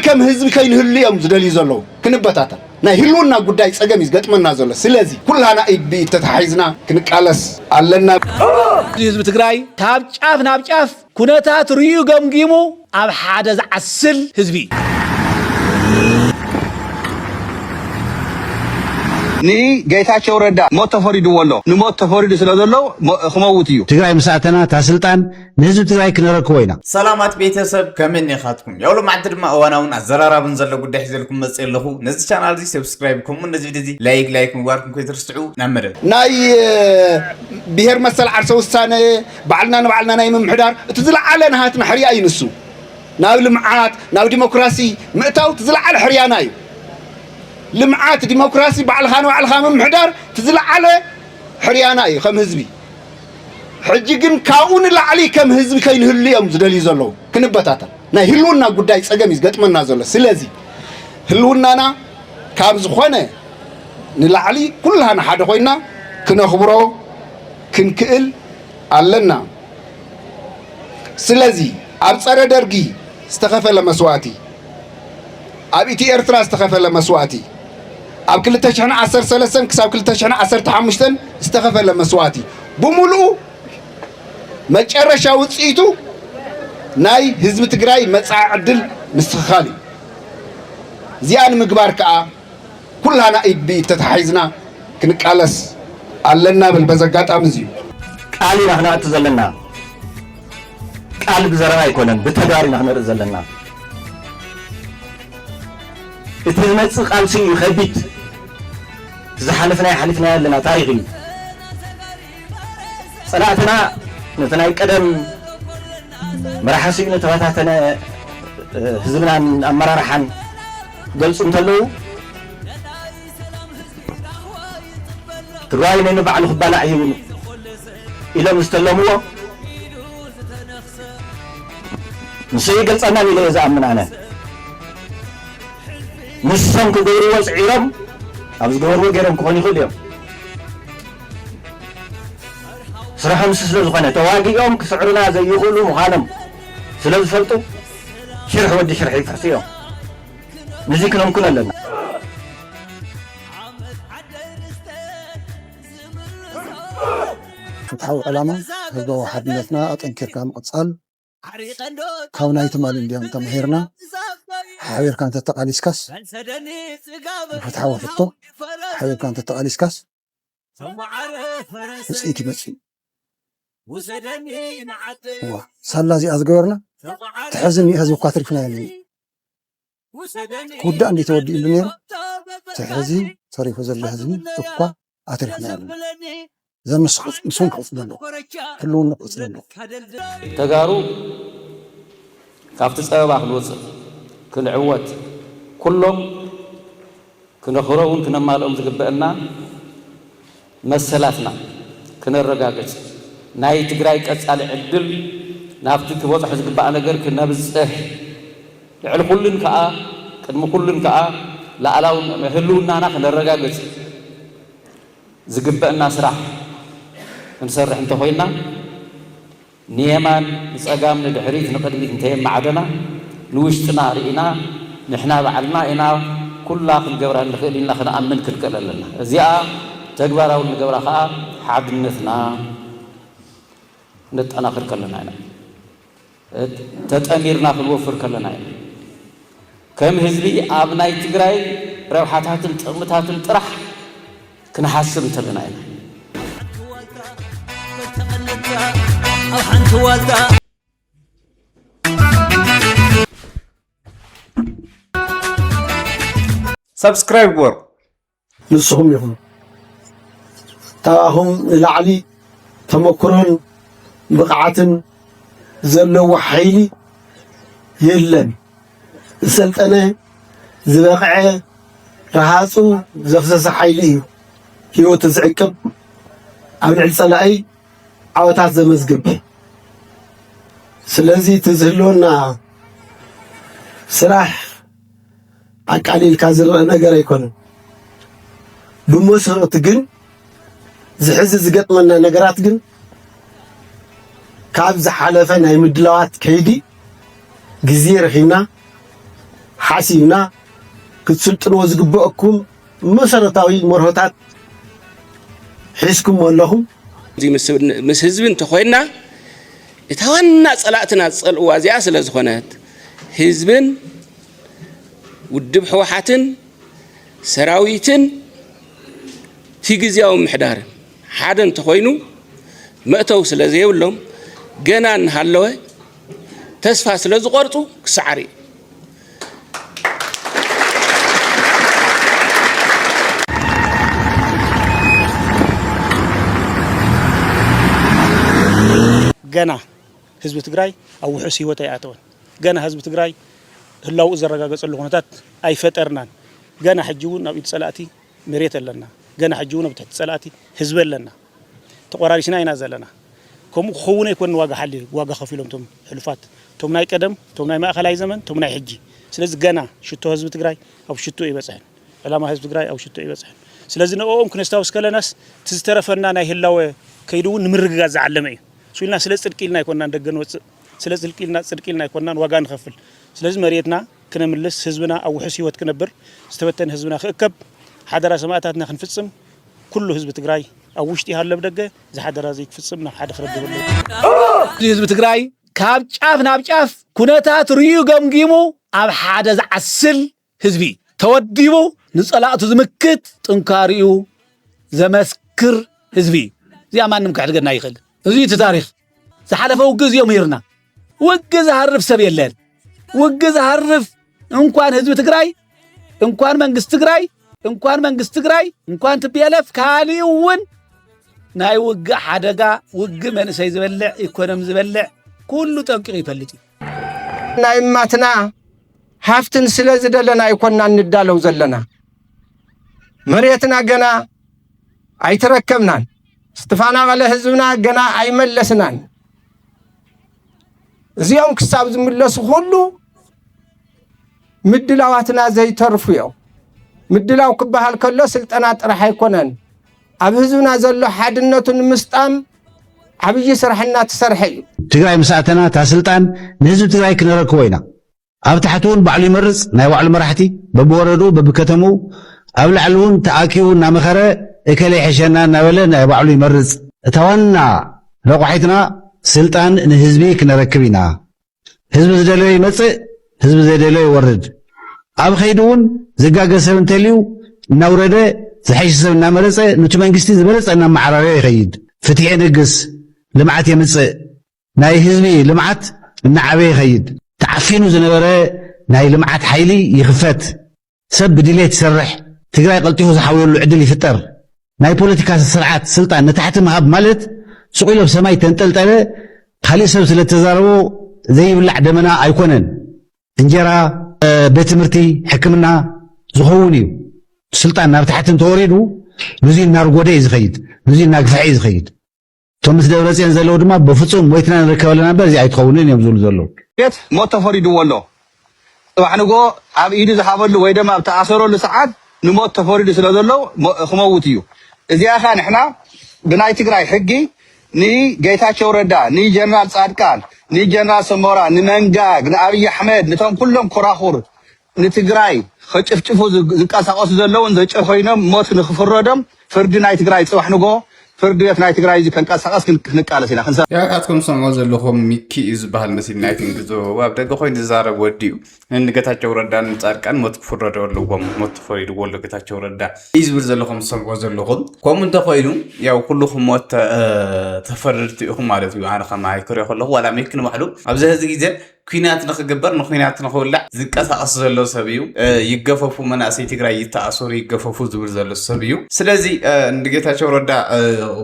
ከም ህዝቢ ከይንህሉ እዮም ዝደልዩ ዘለዉ ክንበታተን ናይ ህልውና ጉዳይ ጸገም እዩ ዝገጥመና ዘሎ ስለዚ ኩላና ኢድ ብኢድ ተተሓሒዝና ክንቃለስ ኣለና። እዚ ህዝቢ ትግራይ ካብ ጫፍ ናብ ጫፍ ኩነታት ርእዩ ገምጊሙ ኣብ ሓደ ዝዓስል ህዝቢ እዩ። ንጌታቸው ረዳ ሞት ተፈሪድዎ ኣሎ ንሞት ተፈሪዱ ስለዘሎ ክመውት እዩ። ትግራይ ምስ ኣተና እታ ስልጣን ንህዝቢ ትግራይ ክነረክቦ ኢና። ሰላማት ቤተሰብ ከመይ ኔኻትኩም ያው ሎማዕንቲ ድማ እዋናውን ኣዘራራብን ዘሎ ጉዳይ ሒዘልኩም መጽ ኣለኹ ነዚ ቻናል እዚ ሰብስክራይብ ከምኡ ነዚ ቪድዮ እዚ ላይክ ላይክ ምግባርኩም ከይትርስዑ ናብ መደብ ናይ ብሄር መሰል ዓርሰ ውሳነ ባዕልና ንባዕልና ናይ ምምሕዳር እቲ ዝለዓለ ናሃትና ሕርያ እዩ ንሱ ናብ ልምዓት ናብ ዲሞክራሲ ምእታው እቲ ዝለዓለ ሕርያና እዩ ልምዓት ዲሞክራሲ ባዕልኻ ንባዕልኻ ምምሕዳር እቲ ዝለዓለ ሕርያና እዩ ከም ህዝቢ ሕጂ ግን ካብኡ ንላዕሊ ከም ህዝቢ ከይንህሉ እዮም ዝደልዩ ዘለዉ። ክንበታተን ናይ ህልውና ጉዳይ ጸገም እዩ ዝገጥመና ዘሎ። ስለዚ ህልውናና ካብ ዝኾነ ንላዕሊ ኩላህና ሓደ ኮይና ክነኽብሮ ክንክእል ኣለና። ስለዚ ኣብ ጸረ ደርጊ ዝተኸፈለ መስዋእቲ፣ ኣብ ኢቲ ኤርትራ ዝተኸፈለ መስዋእቲ ኣብ 2013 ክሳብ 2015 ዝተኸፈለ መስዋእቲ ብምሉኡ መጨረሻ ውፅኢቱ ናይ ህዝቢ ትግራይ መፃኢ ዕድል ምስትኽኻል እዩ። እዚኣ ንምግባር ከዓ ኩላና ኢድ ብኢድ ተታሓሒዝና ክንቃለስ ኣለና ብል በዚ ኣጋጣሚ እዚ እዩ። ቃል ኢና ክነኣቱ ዘለና ቃል ብዘረባ ኣይኮነን ብተግባር ኢና ክነርኢ ዘለና እቲ ዝመፅእ ቃልሲ እዩ ከቢድ እቲ ዝሓለፍናዮ ሓሊፍናዮ ኣለና ታሪክ እዩ። ጸላእትና ነቲ ናይ ቀደም መራሒ ስኢኑ ተበታተነ ህዝብናን ኣመራርሓን ክገልጹ እንተለዉ ትግራዋይ ነንባዕሉ ክባላዕ እዩ ኢሎም ዝተለምዎ ንሱ ይገልጸናን ኢለ እየ ዝኣምን ኣነ ንሶም ክገብርዎ ፅዒሮም ኣብ ዝገበርዎ ገይሮም ክኾኑ ይኽእሉ እዮም ስርሖም እሱ ስለ ዝኾነ ተዋጊኦም ክስዕሩና ዘይኽእሉ ምዃኖም ስለ ዝፈልጡ ሽርሒ ወዲ ሽርሒ ይፍሕሱ እዮም። ንዚ ክነምክኖ ኣለና። ፍትሓዊ ዕላማ ህዝባዊ ሓድነትና ኣጠንኪርካ ምቕፃል፣ ካብ ናይ ትማሊ እንድዮም ተማሂርና ሓቢርካ እንተተቃሊስካስ ንፍትሓዊ ሕቶ ሓቢርካ እንተተቃሊስካስ ውፅኢት ይመፅእ እዩ ሳላ እዚኣ ዝገበርና ተሕዝን ህዝቢ እኳ ትርፍና የለን ክውዳእ እንድዩ ተወዲኡሉ ነይሩ እቲ ሕዚ ተሪፉ ዘሎ ህዝቢ እኳ ኣትሪፍና የብልና እዛ ምስ ምስውን ክቕፅል ኣለዎ ህልውንኡ ክቕፅል ኣለዎ። ተጋሩ ካብቲ ፀበባ ክንወፅእ ክንዕወት ኩሎም ክነኽብሮምን ክነማልኦም ዝግበእና መሰላትና ክነረጋግፅ፣ ናይ ትግራይ ቀፃሊ ዕድል ናብቲ ክበፅሖ ዝግባእ ነገር ክነብፅሕ፣ ልዕሊ ኩሉን ከዓ ቅድሚ ኩሉን ከዓ ልኣላዊ ህልውናና ክነረጋግፅ ዝግበእና ስራሕ ክንሰርሕ እንተኾይንና፣ ንየማን ንጸጋም ንድሕሪት ንቕድሚት እንተየማዕደና ንውሽጥና ርኢና ንሕና ባዕልና ኢና ኩላ ክንገብራ እንኽእል ኢልና ክንኣምን ክንክእል ኣለና። እዚኣ ተግባራዊ እንገብራ ከኣ ሓድነትና ክነጠናኽር ከለና ኢና። ተጠሚርና ክንወፍር ከለና ኢና። ከም ህዝቢ ኣብ ናይ ትግራይ ረብሓታትን ጥቕምታትን ጥራሕ፣ ክንሓስብ እንተለና ኢና። ሳብስክራይብ ግበሩ ንስኹም ኢኹም ካብኣኹም ንላዕሊ ተመክሮን ብቕዓትን ዘለዎ ሓይሊ የለን። ዝሰልጠነ ዝበቕዐ ረሃፁ ዘፍሰሰ ሓይሊ እዩ ህይወቱ ዝዕቅብ ኣብ ልዕሊ ፀላኢ ዓወታት ዘመዝግብ ስለዚ እቲ ዝህልወና ስራሕ ኣቃሊልካ ዝረአ ነገር ኣይኮነን ብመሰረቱ ግን ዝሕዚ ዝገጥመና ነገራት ግን ካብ ዝሓለፈ ናይ ምድላዋት ከይዲ ግዜ ረኺብና ሓሲብና ክትስልጥንዎ ዝግበአኩም መሰረታዊ መርሆታት ሒዝኩም ኣለኹም። ምስ ህዝቢ እንተኮይና እታ ዋና ፀላእትና ዝፀልእዋ እዚኣ ስለ ዝኾነት ህዝብን ውድብ ህወሓትን ሰራዊትን እቲ ግዝያዊ ምሕዳርን ሓደ እንተኾይኑ መእተዊ ስለ ዘይብሎም ገና እናሃለወ ተስፋ ስለ ዝቆርፁ ክሰዓር እዩ። ገና ህዝቢ ትግራይ ኣብ ውሑስ ህይወት ኣይኣተወን። ገና ህዝቢ ትግራይ ህላውኡ ዘረጋገፀሉ ኩነታት ኣይፈጠርናን። ገና ሕጂ እውን ኣብ ኢድ ፀላእቲ መሬት ኣለና። ገና ሕጂ እውን ኣብ ትሕቲ ፀላእቲ ህዝቢ ኣለና። ተቆራሪስና ኢና ዘለና። ከምኡ ክኸውን ኣይኮን ዋጋ ሓሊ ዋጋ ከፊሎም ቶም ሕሉፋት ቶም ናይ ቀደም ቶም ናይ ማእኸላይ ዘመን ቶም ናይ ሕጂ ስለዚ ገና ሽቶ ህዝቢ ትግራይ ኣብ ሽቶ ይበፅሕን ዕላማ ህዝቢ ትግራይ ኣብ ሽቶ ይበፅሕን ስለዚ ንኦም ክነስታውስ ከለናስ እቲ ዝተረፈና ናይ ህላወ ከይዲ እውን ንምርግጋፅ ዝዓለመ እዩ ስኢልና ስለ ፅድቂ ኢልና ኣይኮናን ደገ ንወፅእ ስለ ጽልቂ ኢልና ጽድቂ ኢልና ኣይኮናን ዋጋ ንኸፍል ስለዚ መርየትና ክነምልስ ህዝብና ኣብ ውሑስ ሂወት ክነብር ዝተበተነ ህዝብና ክእከብ ሓደራ ሰማእታትና ክንፍጽም ኩሉ ህዝቢ ትግራይ ኣብ ውሽጢ ይሃሉ ኣብ ደገ እዚ ሓደራ እዚ ክፍጽም ናብ ሓደ ክረድብ ኣለዎ ህዝቢ ትግራይ ካብ ጫፍ ናብ ጫፍ ኩነታት ርዩ ገምጊሙ ኣብ ሓደ ዝዓስል ህዝቢ ተወዲቡ ንጸላእቱ ዝምክት ጥንካሪኡ ዘመስክር ህዝቢ እዩ። እዚኣ ማንም ክሕድገና ይኽእል። እዚ እቲ ታሪኽ ዝሓለፈ ውግ እዚኦ ምሂርና። ውግ ዝሃርፍ ሰብ የለን። ውግ ዝሃርፍ እንኳን ህዝቢ ትግራይ እንኳን መንግስቲ ትግራይ እንኳን መንግስቲ ትግራይ እንኳን ትቤለፍ ካሊእ እውን ናይ ውግእ ሓደጋ ውግእ መንእሰይ ዝበልዕ ኢኮኖሚ ዝበልዕ ኩሉ ጠንቂቑ ይፈልጥ እዩ። ናይ እማትና ሃፍትን ስለ ዝደለና ኣይኮና እንዳለው ዘለና መሬትና ገና ኣይተረከብናን። ዝተፈናቐለ ህዝብና ገና ኣይመለስናን። እዚኦም ክሳብ ዝምለሱ ኩሉ ምድላዋትና ዘይተርፉ እዮም። ምድላው ክበሃል ከሎ ስልጠና ጥራሕ ኣይኮነን። ኣብ ህዝብና ዘሎ ሓድነቱ ንምስጣም ዓብዪ ስራሕ እናተሰርሐ እዩ። ትግራይ ምስ ኣተና እታ ስልጣን ንህዝቢ ትግራይ ክነረክቦ ኢና። ኣብ ታሕቲ እውን ባዕሉ ይመርፅ ናይ ባዕሉ መራሕቲ በብወረድኡ በብከተምኡ ኣብ ላዕሊ እውን ተኣኪቡ እናመኸረ እከለ ይሕሸና እናበለ ናይ ባዕሉ ይመርፅ። እታ ዋና ረቋሒትና ስልጣን ንህዝቢ ክነረክብ ኢና። ህዝቢ ዝደለዮ ይመጽእ ህዝቢ ዘይደለዮ ይወርድ ኣብ ኸይዲ እውን ዝጋገ ሰብ እንተልዩ እናውረደ ዝሐይሽ ሰብ እናመረፀ ኑቲ መንግስቲ ዝበለፀ እናመዓራረዮ ይኸይድ ፍትሒ የንግስ ልምዓት የምፅእ ናይ ህዝቢ ልምዓት እናዓበየ ይኸይድ ተዓፊኑ ዝነበረ ናይ ልምዓት ሓይሊ ይኽፈት ሰብ ብድሌት ይሰርሕ፣ ትግራይ ቀልጢፉ ዝሓውየሉ ዕድል ይፍጠር፣ ናይ ፖለቲካ ስርዓት ስልጣን ንታሕቲ ምሃብ ማለት ሱቕ ኢሉ ኣብ ሰማይ ተንጠልጠለ ካሊእ ሰብ ስለተዛረቦ ዘይብላዕ ደመና ኣይኮነን፣ እንጀራ፣ ቤት ትምህርቲ፣ ሕክምና ዝኸውን እዩ፣ ስልጣን ናብ ታሕቲ እንተወሪዱ ንዙይ እናርጎደ እዩ ዝኸይድ፣ ንዙይ እናግፍሐ እዩ ዝኸይድ። እቶም ምስ ደብረፅዮን ዘለዉ ድማ ብፍፁም ሞይትና ንርከብ ኣለና እምበር እዚ ኣይትኸውንን እዮም ዝብሉ ዘለዉ። ቤት ሞት ተፈሪድዎ ኣሎ። ጽባሕ ንግሆ ኣብ ኢዱ ዝሃበሉ ወይ ደማ ኣብ ተኣሰረሉ ሰዓት ንሞት ተፈሪዱ ስለ ዘሎ ክመውት እዩ። እዚኣ ከኣ ንሕና ብናይ ትግራይ ሕጊ ንጌታቸው ረዳ፣ ንጀነራል ጻድቃን፣ ንጀነራል ሰሞራ፣ ንመንጋግ፣ ንኣብይ ኣሕመድ፣ ንቶም ኩሎም ኮራኹር ንትግራይ ኸጭፍጭፉ ዝንቀሳቀሱ ዘለዉን ዘጨኾይኖም ሞት ንኽፍረዶም ፍርዲ ናይ ትግራይ ፅባሕ ንግሆ ፍርዲ ቤት ናይ ትግራይ እዙይ ከንቀሳቀስ ክንቃለስ ኢና። ያው ኣትኩም ትሰምዑ ዘለኹም ሚኪ እዩ ዝበሃል መሲል ናይ ትንግዞ ኣብ ደገ ኮይኑ ዝዛረብ ወዲ እዩ። ንገታቸው ረዳን ንጻድቃን ሞት ክፍረዶ ኣለዎም ሞት ተፈሪድዎ ኣሎ ገታቸው ረዳ እዩ ዝብል ዘሎ ከም ትሰምዑ ዘለኹም። ከምኡ እንተኾይኑ ያው ኩልኹም ሞት ተፈረድቲ ኢኹም ማለት እዩ። ኣነ ከማይ ክሪኦ ከለኹ ዋላ ሚኪ ንባዕሉ ኣብዚ ሕዚ ግዜ ኲናት ንኽግበር ንዂናት ንኽውላዕ ዝንቀሳቐስ ዘሎ ሰብ እዩ። ይገፈፉ መናእሰይ ትግራይ ይተኣሰሩ ይገፈፉ ዝብል ዘሎ ሰብ እዩ። ስለዚ ንጌታቸው ረዳ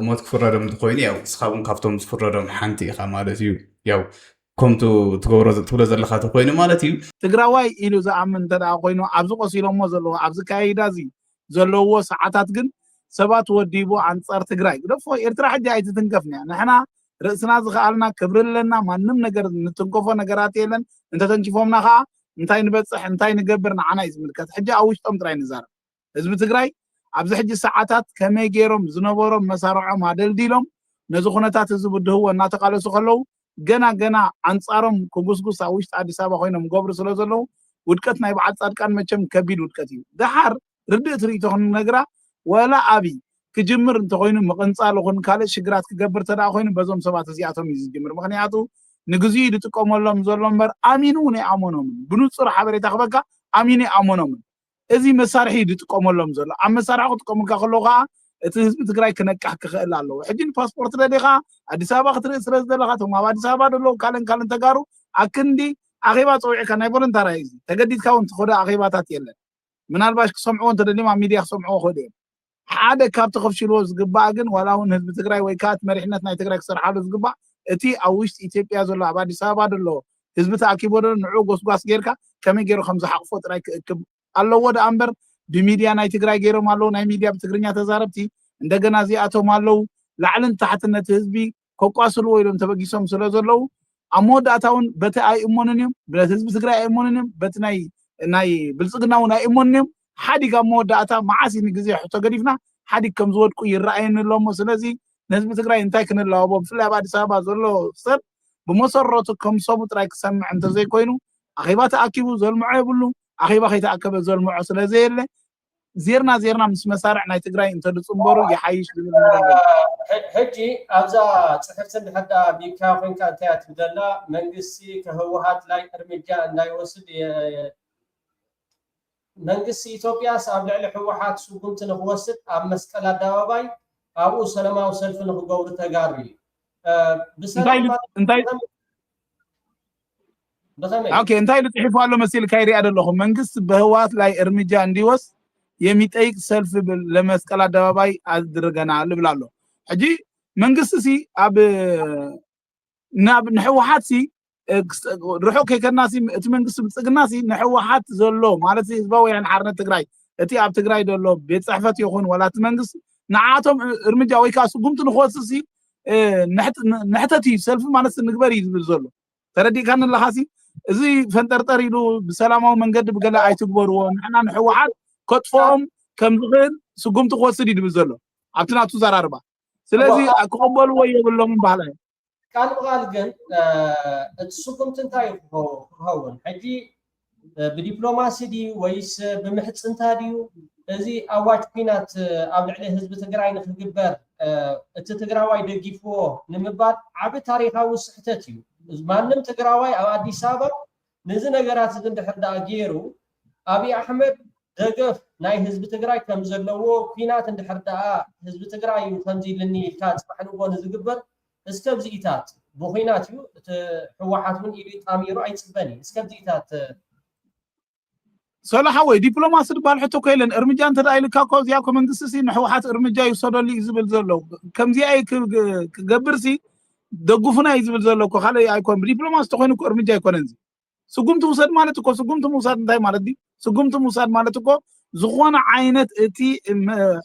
ሞት ክፍረዶም እንተኾይኑ ያው ንስኻ እውን ካብቶም ዝፍረዶም ሓንቲ ኢኻ ማለት እዩ። ያው ከምቱ ትገብሮ ትብሎ ዘለኻ ተኮይኑ ማለት እዩ። ትግራዋይ ኢሉ ዝኣምን እንተደኣ ኮይኑ ኣብዚ ቆሲሎሞ ዘለዉ ኣብዚ ኣካያይዳ እዚ ዘለውዎ ሰዓታት ግን ሰባት ወዲቡ ኣንጻር ትግራይ ግደፎ ኤርትራ ሕጂ ኣይትትንከፍን'ያ ንሕና ርእስና ዝኸኣልና ክብሪ ኣለና ማንም ነገር ንትንከፎ ነገራት የለን እንተተንኪፎምና ከዓ እንታይ ንበፅሕ እንታይ ንገብር ንዓና እዩ ዝምልከት ሕጂ ኣብ ውሽጦም ጥራይ ንዛረብ ህዝቢ ትግራይ ኣብዚ ሕጂ ሰዓታት ከመይ ገይሮም ዝነበሮም መሳርዖም ኣደልዲሎም ነዚ ኩነታት እዚ ብድህዎ እናተቃለሱ ከለዉ ገና ገና ኣንፃሮም ክጉስጉስ ኣብ ውሽጢ ኣዲስ ኣበባ ኮይኖም ገብሩ ስለ ዘለዉ ውድቀት ናይ በዓል ፃድቃን መቸም ከቢድ ውድቀት እዩ ደሓር ርድእት ርእቶ ክንነግራ ወላ ኣብይ ክጅምር እንተኾይኑ ምቕንጻል ይኹን ካልእ ሽግራት ክገብር እንተድኣ ኮይኑ በዞም ሰባት እዚኣቶም እዩ ዝጅምር ምኽንያቱ ንግዚኡ እዩ ዝጥቀመሎም ዘሎ እምበር ኣሚኑ እውን ኣይኣመኖምን ብንጹር ሓበሬታ ክበካ ኣሚኑ ኣይኣመኖምን እዚ መሳርሒ እዩ ዝጥቀመሎም ዘሎ ኣብ መሳርሒ ክጥቀሙልካ ከለዉ ከዓ እቲ ህዝቢ ትግራይ ክነቅሕ ክኽእል ኣለዎ ሕጂ ንፓስፖርት ደሊኻ ኣዲስ ኣበባ ክትርኢ ስለ ዝደለኻ እቶም ኣብ ኣዲስ ኣበባ ዘለዉ ካልእን ካልእን ተጋሩ ኣክንዲ ኣኼባ ፀዊዕካ ናይ ቮለንታራ እዩ እዚ ተገዲድካ እውን ትኸዶ ኣኼባታት የለን ምናልባሽ ክሰምዕዎ እንተደልዮም ኣብ ሚድያ ክሰምዕዎ ክእሉ እዮም ሓደ ካብቲ ከፍሽልዎ ዝግባእ ግን ዋላ እውን ህዝቢ ትግራይ ወይ ከኣ እቲ መሪሕነት ናይ ትግራይ ክሰርሓሉ ዝግባእ እቲ ኣብ ውሽጢ ኢትዮጵያ ዘሎ ኣብ ኣዲስ ኣበባ ደሎ ህዝቢ ተኣኪቦ ደሎ ንዑኡ ጎስጓስ ገይርካ ከመይ ገይሩ ከምዝሓቑፎ ጥራይ ክእክብ ኣለዎ ደኣ እምበር ብሚድያ ናይ ትግራይ ገይሮም ኣለዉ ናይ ሚድያ ብትግርኛ ተዛረብቲ እንደገና እዚኣቶም ኣለዉ ላዕልን ታሕትን ነቲ ህዝቢ ከቋስልዎ ኢሎም ተበጊሶም ስለ ዘለዉ ኣብ መወዳእታ እውን በቲ ኣይእሞንን እዮም ብለት ህዝቢ ትግራይ ኣይእሞንን እዮም በቲ ናይ ናይ ብልፅግና እውን ኣይእሞንን እዮም ሓዲግ ኣብ መወዳእታ መዓስ እዩ ንግዜ ሕቶ ገዲፍና ሓዲግ ከም ዝወድቁ ይረኣየኒ ኣሎ እሞ ስለዚ ንህዝቢ ትግራይ እንታይ ክንለዋቦ ብፍላይ ኣብ ኣዲስ ኣበባ ዘሎ ሰብ ብመሰረቱ ከም ሰቡ ጥራይ ክሰምዕ እንተዘይኮይኑ ኣኼባ ተኣኪቡ ዘልምዖ የብሉ ኣኼባ ከይተኣከበ ዘልምዖ ስለዘየለ ዜርና ዜርና ምስ መሳርዕ ናይ ትግራይ እንተድፅምበሩ ይሓይሽ ዝብል መደብ ኣሎ። ሕጂ ኣብዛ ጽሕፍቲ እንድሕር ደኣ ቢካ ኮንካ እንታይ እያ ትብል ዘላ መንግስቲ ከህወሓት ላይ እርምጃ እንዳይወስድ መንግስቲ ኢትዮጵያስ ኣብ ልዕሊ ህወሓት ስጉምቲ ንክወስድ ኣብ መስቀል ኣደባባይ ኣብኡ ሰለማዊ ሰልፊ ንክገብሩ ተጋሩ እዩ እንታይ ኢሉ እንታይ ብኸመይ? ኦኬ እንታይ ኢሉ ጽሒፉ ኣሎ መሲልካ ይሪኣ ደለኹ መንግስት በህወሓት ላይ እርምጃ እንዲወስ የሚጠይቅ ሰልፍ ለመስቀል ኣደባባይ ኣድርገናል ይብል ኣሎ ሕጂ መንግስቲ ሲ ኣብ ናብ ንሕወሓት ሲ ርሑቅ ከይከድና ሲ እቲ መንግስቲ ብልጽግና ሲ ንሕወሓት ዘሎ ማለት ህዝባዊ ወያነ ሓርነት ትግራይ እቲ ኣብ ትግራይ ዘሎ ቤት ጽሕፈት ይኹን ዋላ እቲ መንግስቲ ንዓኣቶም እርምጃ ወይ ከኣ ስጉምቲ ንክወስድሲ ንሕተት እዩ ሰልፊ ማለትሲ ንግበር እዩ ዝብል ዘሎ ተረዲእካኒ ኣለኻሲ እዚ ፈንጠርጠር ኢሉ ብሰላማዊ መንገዲ ብገለ ኣይትግበርዎ ንሕና ንሕወሓት ከጥፍኦም ከም ዝኽእል ስጉምቲ ክወስድ እዩ ዝብል ዘሎ ኣብቲ ናቱ ዘራርባ ስለዚ ክቕበልዎ የብሎምን በሃላይ ቃል ብቃል ግን እቲ ስጉምቲ እንታይ ክኸውን ሕጂ ብዲፕሎማሲ ድዩ ወይስ ብምሕፅንታ ድዩ እዚ ኣዋጅ ኩናት ኣብ ልዕሊ ህዝቢ ትግራይ ንክግበር እቲ ትግራዋይ ደጊፍዎ ንምባል ዓቢ ታሪካዊ ስሕተት እዩ። ማንም ትግራዋይ ኣብ ኣዲስ ኣበባ ነዚ ነገራት እዚ እንድሕር ድኣ ገይሩ ኣብይ ኣሕመድ ደገፍ ናይ ህዝቢ ትግራይ ከም ዘለዎ ኩናት እንድሕር ድኣ ህዝቢ ትግራይ እዩ ከምዚ ኢልኒ ኢልካ ፅባሕ ንግሆ ንዝግበር እስከብዚኢታት ብኩናት እዩ እቲ ህወሓት እውን ኢዱ ጣሚሩ ኣይፅበን እዩ እስከብዚኢታት ሰሉ ሓወይ ዲፕሎማሲ ድባል ሕቶ እኮ የለን እርምጃ እንተደኣ ኢልካ እኮ ኣብዚኣ እኮ መንግስቲሲ ንሕውሓት እርምጃ ይውሰደሉ እዩ ዝብል ዘሎ ከምዚኣ እዩ ክገብርሲ ደግፉና እዩ ዝብል ዘሎ እኮ ካልእ ኣይኮን ብዲፕሎማሲ ተኮይኑ እኮ እርምጃ ኣይኮነን እዚ ስጉምቲ ውሰድ ማለት እኮ ስጉምቲ ምውሳድ እንታይ ማለት ድዩ ስጉምቲ ምውሳድ ማለት እኮ ዝኾነ ዓይነት እቲ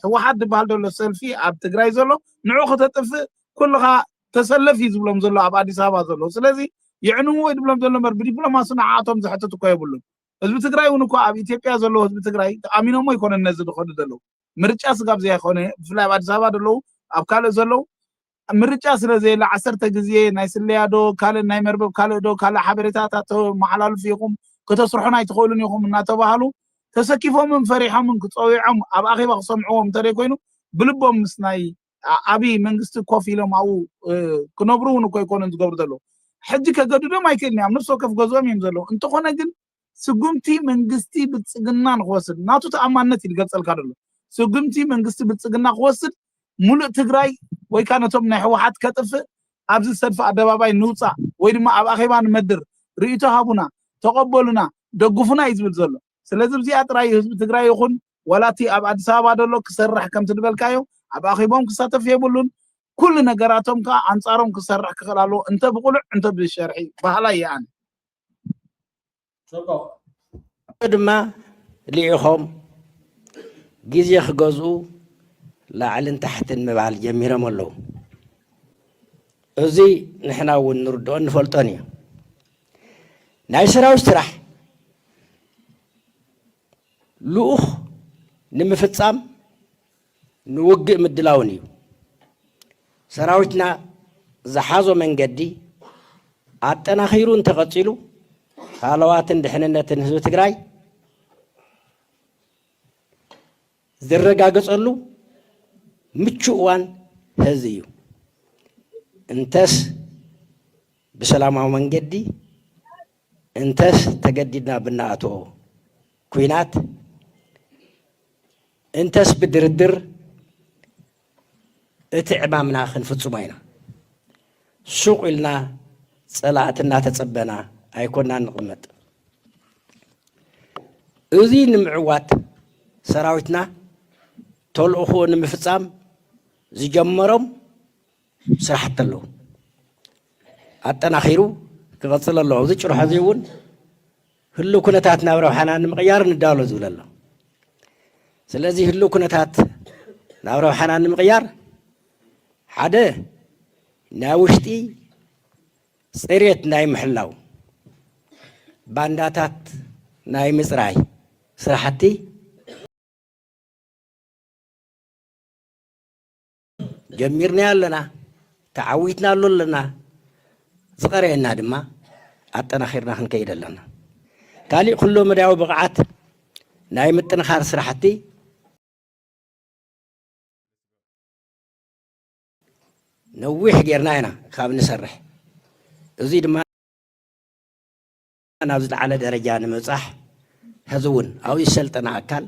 ህወሓት ዝበሃል ዘሎ ሰልፊ ኣብ ትግራይ ዘሎ ንዑ ከተጥፍእ ኩልኻ ተሰለፍ እዩ ዝብሎም ዘሎ ኣብ ኣዲስ ኣበባ ዘሎ ስለዚ የዕንዎ ይድብሎም ዘሎ እምበር ብዲፕሎማሲ ንዓኣቶም ዘሕትት እኮ የብሉን ህዝቢ ትግራይ ውን እኳ ኣብ ኢትዮጵያ ዘለዉ ህዝቢ ትግራይ ተኣሚኖሞ ኣይኮነን ነዚ ዝኸዱ ዘለዉ ምርጫ ስጋብ ዘይኮነ ብፍላይ ኣብ ኣዲስ ኣበባ ዘለዉ ኣብ ካልእ ዘለዉ ምርጫ ስለ ዘየለ ዓሰርተ ግዜ ናይ ስለያ ዶ ካልእ ናይ መርበብ ካልእ ዶ ካልእ ሓበሬታታት ተመሓላልፉ ኢኹም ከተስርሑን ኣይትኽእሉን ኢኹም እናተባሃሉ ተሰኪፎምን ፈሪሖምን ክፀዊዖም ኣብ ኣኼባ ክሰምዕዎም እንተደይ ኮይኑ ብልቦም ምስ ናይ ዓብይ መንግስቲ ኮፍ ኢሎም ኣብኡ ክነብሩ እውን እኮ ኣይኮኑን ዝገብሩ ዘለዉ ሕጂ ከገድዶም ኣይክእልን ኣብ ነፍሲ ወከፍ ገዝኦም እዮም ዘለዉ እንተኾነ ግን ስጉምቲ መንግስቲ ብልፅግና ንክወስድ ናቱ ተኣማንነት እዩ ዝገልፀልካ ደሎ ስጉምቲ መንግስቲ ብልፅግና ክወስድ ሙሉእ ትግራይ ወይ ከዓ ነቶም ናይ ህወሓት ከጥፍእ ኣብዚ ሰልፊ ኣደባባይ ንውፃእ ወይ ድማ ኣብ ኣኼባ ንመድር ርእይቶ ሃቡና ተቐበሉና ደግፉና እዩ ዝብል ዘሎ ስለዚ ብዚኣ ጥራይ እዩ ህዝቢ ትግራይ ይኹን ዋላ እቲ ኣብ ኣዲስ ኣበባ ደሎ ክሰርሕ ከምቲ ድበልካዮ ኣብ ኣኺቦም ክሳተፍ የብሉን ኩሉ ነገራቶም ከኣ ኣንጻሮም ክሰርሕ ክኽእል ኣለዎ እንተ ብቁሉዕ እንተ ብሸርሒ በሃላይ እየ ኣነ። ጽቡቕ ድማ ልኢኾም ግዜ ክገዝኡ ላዕልን ታሕትን ምባል ጀሚሮም ኣለዉ። እዚ ንሕና እውን ንርድኦን ንፈልጦን እዩ። ናይ ሰራዊት ስራሕ ልኡኽ ንምፍፃም ንውግእ ምድላውን እዩ። ሰራዊትና ዝሓዞ መንገዲ ኣጠናኺሩ እንተቐፂሉ ሃለዋትን ድሕንነትን ህዝቢ ትግራይ ዝረጋገፀሉ ምቹእ እዋን ሐዚ እዩ። እንተስ ብሰላማዊ መንገዲ እንተስ ተገዲድና ብናኣትኦ ኲናት እንተስ ብድርድር እቲ ዕማምና ክንፍጽሞ ኢና። ሱቕ ኢልና ጸላእቲ እናተጸበና ኣይኮናን ንቕመጥ። እዚ ንምዕዋት ሰራዊትና ተልእኾኡ ንምፍጻም ዝጀመሮም ስራሕቲ ኣለዉ። ኣጠናኺሩ ክቐጽል ኣለዎ። ኣብዚ ጭርሖ እዚ እውን ህሉው ኩነታት ናብ ረብሓና ንምቕያር ንዳሎ ዝብል ኣሎ። ስለዚ ህሉው ኩነታት ናብ ረብሓና ንምቕያር ሓደ ናይ ውሽጢ ፅሬት ናይ ምሕላው ባንዳታት ናይ ምፅራይ ስራሕቲ ጀሚርናዮ ኣለና፣ ተዓዊትናሉ ኣለና፣ ዝቐረየና ድማ ኣጠናኺርና ክንከይድ ኣለና። ካሊእ ኩሎ መዳያዊ ብቕዓት ናይ ምጥንኻር ስራሕቲ ነዊሕ ጌርና ኢና ካብ ንሰርሕ እዙይ ድማ ናብ ዝለዓለ ደረጃ ንምብጻሕ ሕዚ እውን ኣብኡ ዝሰልጠነ ኣካል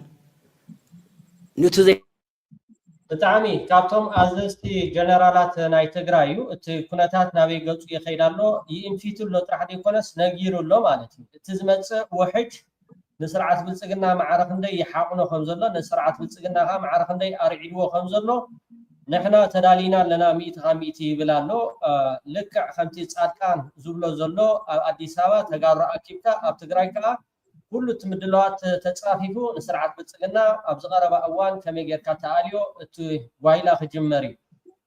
ኑቲ ዘይ ብጣዕሚ ካብቶም ኣዘዝቲ ጀነራላት ናይ ትግራይ እዩ እቲ ኩነታት ናበይ ገፁ ይኸይድ ኣሎ ይእንፊቱ ኣሎ ጥራሕ ዘይኮነስ ነጊሩ ኣሎ ማለት እዩ እቲ ዝመፅእ ውሕጅ ንስርዓት ብልፅግና ማዕረ ክንደይ ይሓቑኖ ከምዘሎ ንስርዓት ብልፅግና ከዓ ማዕረ ክንደይ ኣርዒድዎ ከምዘሎ ንሕና ተዳሊና ኣለና ሚእቲ ካብ ሚእቲ ይብል ኣሎ ልክዕ ከምቲ ጻድቃን ዝብሎ ዘሎ ኣብ ኣዲስ ኣበባ ተጋሩ ኣኪብካ ኣብ ትግራይ ከኣ ኩሉ እቲ ምድላዋት ተጻፊፉ ንስርዓት ብልጽግና ኣብዚ ቀረባ እዋን ከመይ ጌርካ ተኣልዮ እቲ ጓይላ ክጅመር እዩ